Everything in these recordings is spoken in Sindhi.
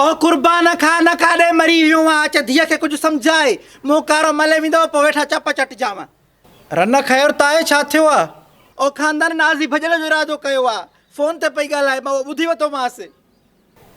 او قربان کان نه ڪاڏي مري ويو آ اچ ڌيء کي ڪجھ سمجھاء مون ڪارو ملي ويندو پو ويٺا چپ چٽجانء. رنه خير تاء ڇا ٿيو آ. او خاندان نازي ڀڄڻ جو ارادو ڪيو آ فون تي پئي ڳالهائي مان اهو ٻڌي وتومانس.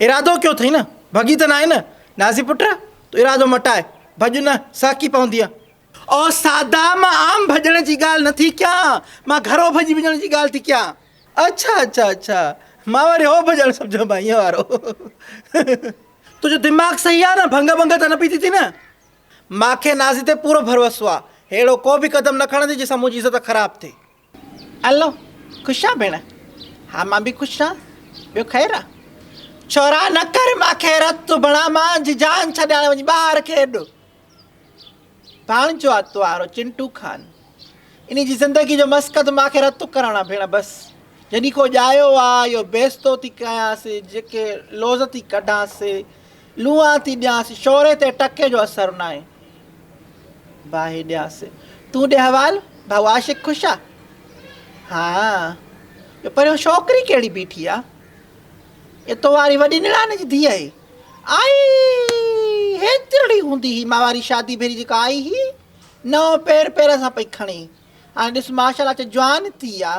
ارادو ڪيو ٿئي نه، ڀڳي ته ناهي نه، نازي پٽ! تون ارادو مٽاء، ڀڄ نه، سهڪي پوندينء. او سادا، مان عام ڀڄڻ جي ڳالهه نه ٿي ڪيان، مان گهرو ڀڄي وڃڻ جي ڳالهه ٿي ڪيان. اڇا اڇا اڇا، مان وري اهو ڀڄڻ سمجهيو مان ايئن وارو. تنهنجو دماغ صحيح آ نه، ڀنگ ڀنگ ته نه پئي ٿي ٿئي نه. مان کي نازي تي پورو ڀروسو آ، ههڙو ڪو به قدم نه کڻندي جنهن سان منهنجي عزت خراب ٿئي. الو، خوش آ ڀيڻ؟ ها مان به خوش آن، ٻيو خير آ؟ ڇورا نه ڪر مان خيرت تون ڀڻا مان جي جان ڇڏيان وڃ ٻاهر کيڏ. ڀاڻجو آ توهارو چنٽو خان، انهي جي زندگي جو مسقط مان کي رتو ڪرڻ آ ڀيڻ بس، جنهي کون ڄايو آ اهو بيستو ٿي ڪيانس، جيڪي لوظ ٿي ڪڍانس، لونئان ٿي ڏيانس، شوري تي ٽڪي جو اثر ناهي. باهي ڏيانس، تون ڏي حوال، ڀائو عاشق خوش آ؟ ها، ٻيو پريون شوڪري ڪهڙي بيٺي آ؟ اهي تو واري وڏي نڻان جي ڌيء هي. آئي هيترڙي هوندي هي مان واري شادي ڀيري جيڪا آئي هي، نئون پير پير سان پئي کڻي. هاڻي ڏس ماشاءالله چ جوان ٿي آ.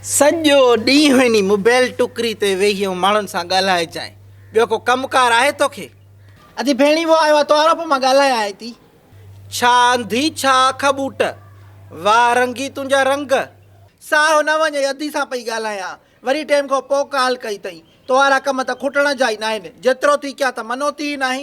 سڄو ڏينهن انهي موبيل ٽڪري تي ويهي ۽ ماڻهن سان ڳالهائي جانء ٻيو ڪو ڪم ڪار آهي توکي؟ اڌي ڀيڻي وو آيو آ تو آروپ مان ڳالهائي آئي تي. ڇا انڌي ڇا اک ٻوٽ. واه رنگي تنهنجا رنگ. ساهو نه وڃئي اڌي سان پئي ڳالهايان وري ٽيم کان پو ڪال ڪئي تئين. توهارا ڪم ته کٽڻ جا ئي ناهن جيترو ٿي ڪيا ته منوتي ئي ناهي.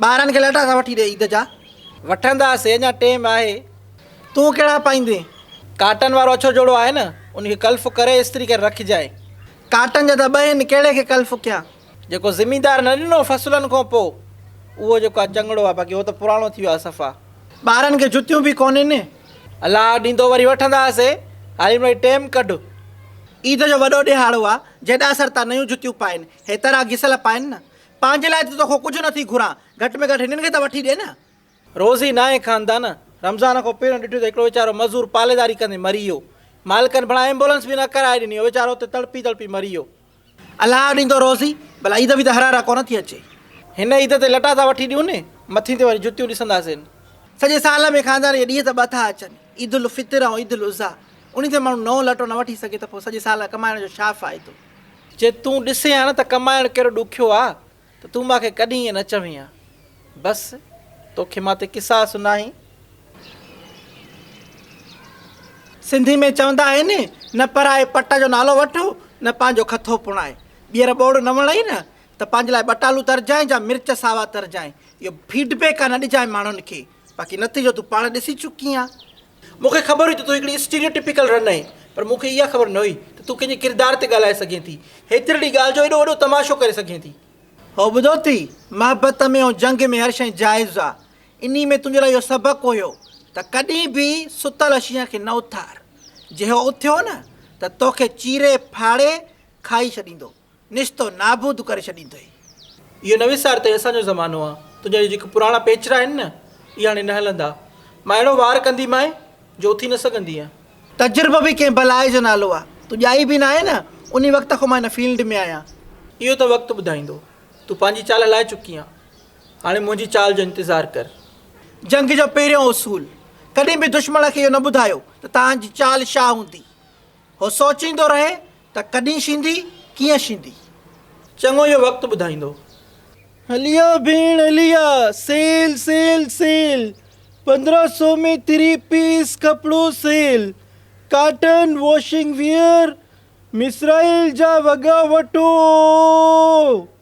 ٻارن کي لئٽا سان وٺي ڏي عيد جا. وٺنداسين اڃا ٽيم آهي. تون ڪهڙا پائيندين؟ ڪاٽن وارو اڇو جوڙو آهي نه، ان کي ڪلف ڪري استري ڪري رکجانء. ڪاٽن جا ته ٻه هن، ڪهڙي کي ڪلف ڪيان؟ جيڪو زميندار نه ڏنو فصلن کان پوء، اهو جيڪو آ چڱڙو آ، باقي اهو ته پراڻو ٿي ويو آ صفا. ٻارن کي جتيون به ڪونهين. الله ڏيندو وري وٺنداسين، هالي مڙئي ٽيم ڪڍ. عيد جو وڏو ڏهاڙو آ، جيڏاسر تان نيون جتيون پائين، هيتر آ گسيل پائين نه، پنهنجي لاء ته توکان ڪجهه نه ٿي گهران، گهٽ ۾ گهٽ هنن کي ته وٺي ڏي نه. روزي ناهي خاندان، رمضان کان پهريون ڏٺو ته هڪڙو ويچارو مزور پاليداري ڪندي مري ويو. مالڪن ڀلا ايمبولنس به نه ڪرائي ڏني، اهو ويچارو اتي تڙپي تڙپي مري ويو. الله ڏيندو روزي، ڀلا عيد به ته هر هر ڪونه ٿي اچي. هن عيد تي لٽا ٿا وٺي ڏيون، مٿين تي وري جتيون ڏسنداسين. سڄي سال ۾ خاندان جا ڏينهن ته ٻه ٿا اچن، عيد الفطر ۽ عيد الاضحيٰ. انهي تي ماڻهو نئون لٽو نه وٺي سگهي ته پوء سڄي سال کان ڪمائڻ جو ڇا فائدو؟ جي تون ڏسين ها نه ته ڪمائڻ ڪهڙو ڏکيو آ ته تون مان کي ڪڏهن ائين نه چوين ها. بس توکي مان تي قصاص ناهي. سنڌي ۾ چوندا آهن نه پرائي پٽ جو نالو وٺ نه پنهنجو کٿو پڻائي. ٻيهر ٻوڙ نه وڻئي نه ته پنهنجي لاء ٻٽالو ترجانء جا مرچ ساوا ترجانء. اهو فيڊ بيڪ آ نه ڏجانء ماڻهن کي. باقي نتيجو تون پاڻ ڏسي چڪي آن. مون کي خبر هئي ته تون هڪڙي اسٽيريو ٽپيڪل رن آهين، پر مون کي اها خبر نه هئي ته تون ڪنهن جي ڪردار تي ڳالهائي سگهين ٿي، هيترڙي ڳالهه جو ايڏو وڏو تماشو ڪري سگهين ٿي. هو ٻڌو ٿي، محبت ۾ ۽ جنگ ۾ هر شيء جائز آ، انهي ۾ تنهنجي لاء اهو سبق هيو ته ڪڏهن به ستل شينهن کي نه اٿار، جي هو اٿيو نه ته توکي چيري ڦاڙي کائي ڇڏيندو. نشتو نابود ڪري ڇڏيندئي. اهو نه وسار ته هي اسان جو زمانو آ. تنهنجا اهي جيڪي پراڻا پيچرا آهن نه، اهي هاڻي نه هلندا. مان اهڙو وار ڪنديمانء، جو اٿي نه سگهندينء. تجربو به ڪنهن بلاء جو نالو آ. تون ڄائي به ناهين نه، انهي وقت کان مان هن فيلڊ ۾ آهيان. اهو ته وقت ٻڌائيندو. تون پنهنجي چال هلائي چڪي آن. هاڻي منهنجي چال جو انتظار ڪر. جنگ جو پهريون اصول، ڪڏهن به دشمڻ کي اهو نه ٻڌايو ته توهان جي چال ڇا هوندي. هو سوچيندو رهي ته ڪڏهن شينڌي، ڪيئن شينڌي. چڱو اهو وقت ٻڌائيندو. هليا ڀيڻ هليا، سيل سيل سيل، پندرهن سو ۾ ٿري پيس ڪپڙو سيل، ڪاٽن واشنگ ويئر، مصرائيل جا وڳا وٺو.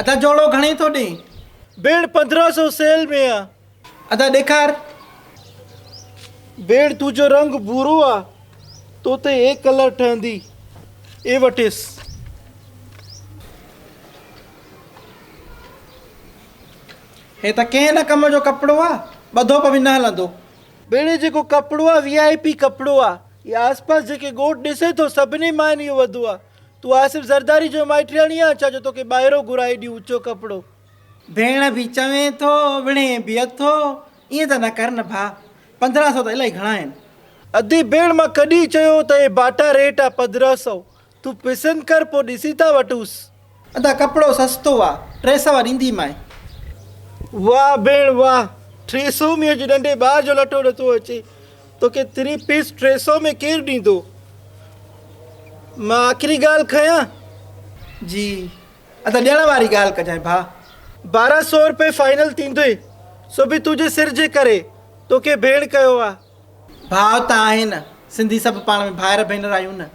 ادا جوڙو گهڻي ٿو ڏين. ڀيڻ پندرهن سو سيل ۾ آ. ادا ڏيکار. ڀيڻ تون جو رنگ ڀورو آ تو تي اي ڪلر ٺهندي اي وٺيس. هي ته ڪنهن نه ڪم جو ڪپڙو آ ٻڌو پوي نه هلندو. ڀيڻ هي جيڪو ڪپڙو آ وي آء پي ڪپڙو آ هي آس پاس جيڪي ڳوٺ ڏسي ٿو سڀني ماين اهو وڌو آ. تون آصف زرداري جو مائٽياڻي آن ڇا جو توکي ٻاهرو گهران ايڏي اوچو ڪپڙو. ڀيڻ به چوين ٿو وڙهين به اٿو ائين ته نه ڪر نه ڀاء پندرهن سئو ته الائي گهڻا آهن. ادي ڀيڻ مان ڪڏهن چيو ته اهي باٽا ريٽ آ پندرهن سئو تون پسند ڪر پوء ڏسي ٿا وٺونس. ادا ڪپڙو سستو آ ٽي سوا ڏيندي مانء. واه ڀيڻ واه ٽي سئو ۾ اڄ ننڍي ٻار جو لٽو نٿو اچي. توکي ٿري پيس ٽي سئو ۾ ڪير ڏيندو؟ مان آخري ڳالهه کنيان؟ جي ادا ڏيڻ واري ڳالهه ڪجانء ڀاء. بارهن سئو روپيه فائنل ٿيندوئي، سو به تنهنجي سر جي ڪري، توکي ڀيڻ ڪيو آ. ڀاء ته آهي نه، سنڌي سڀ پاڻ ۾ ڀائر ڀينر آهيون نه،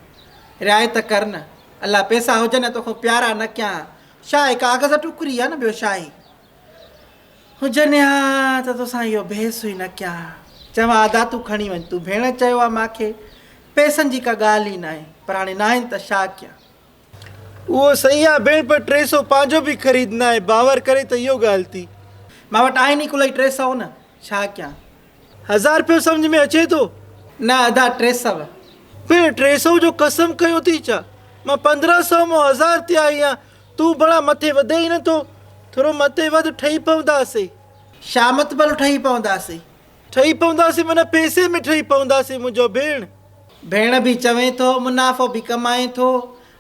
رعايت ڪر نه، الله پئسا هجن يا توکان پيارا نه ڪيان ها، ڇا هي ڪاغذ ٽوڪري آ نه ٻيو ڇا هي. هجن ها ته توسان اهو بحث ئي نه ڪيان ها. چيومانس ادا تون کڻي وڃ. تون ڀيڻ چيو آهي مان کي. پئسن جي ڪا ڳالهه ئي ناهي. پر هاڻي ناهن ته شا ڪيان. اهو صحيح آهي ڀيڻ پر ٽي سئو پنهنجو به خريد ناهي. باور ڪري ته اهو ڳالهه ٿي. مان وٽ آهن ئي ڪلهي ٽي سئو نه. ڇا ڪيان؟ هزار رپيو سمجهه ۾ اچي ٿو؟ نه ادا ٽي سؤ. پڻ ٽي سؤ جو قسم ڪيو ٿي ڇا؟ مان پندرهن سؤ مان هزار تي آئي آهيان، تون ڀلا مٿي وڌين ئي نه ٿو. ٿورو مٿي وڌ ٺهي پونداسين. شا مطبل ٺهي پونداسين؟ ٺهي پونداسين معنيٰ پئسي ۾ ٺهي پونداسين منهنجو ڀيڻ. ڀيڻ به چوين ٿو منافعو به ڪمائين ٿو.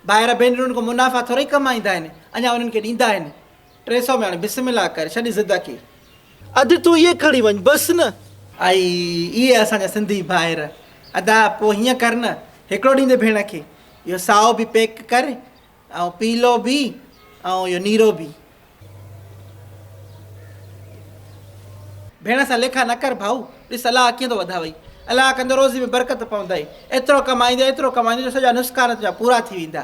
ڀائر ڀينرن ڪو منافعا ٿورئي ڪمائيندا آهن، اڃا انهن کي ڏيندا آهن. ٽي سؤ ميڻ بسم الله ڪري ڇڏي ضد ڪي. اڌ تون ايئن کڻي وڃ بس نه. اي اي اسان جا سنڌي ڀائر. ادا پو هيئن ڪر نه هڪڙو ڏيندي ڀيڻ کي اهو سائو به پيڪ ڪر ۽ پيلو به ۽ اهو نيرو به. ڀيڻ سان ليکا نه ڪر ڀائو ڏس الله اکيون ٿو وڌاوئي الله ڪندو روزي ۾ برڪت پوندئي ايترو ڪمائيندي ايترو ڪمائيندي جو سڄا نسڪان تنهنجا پورا ٿي ويندا.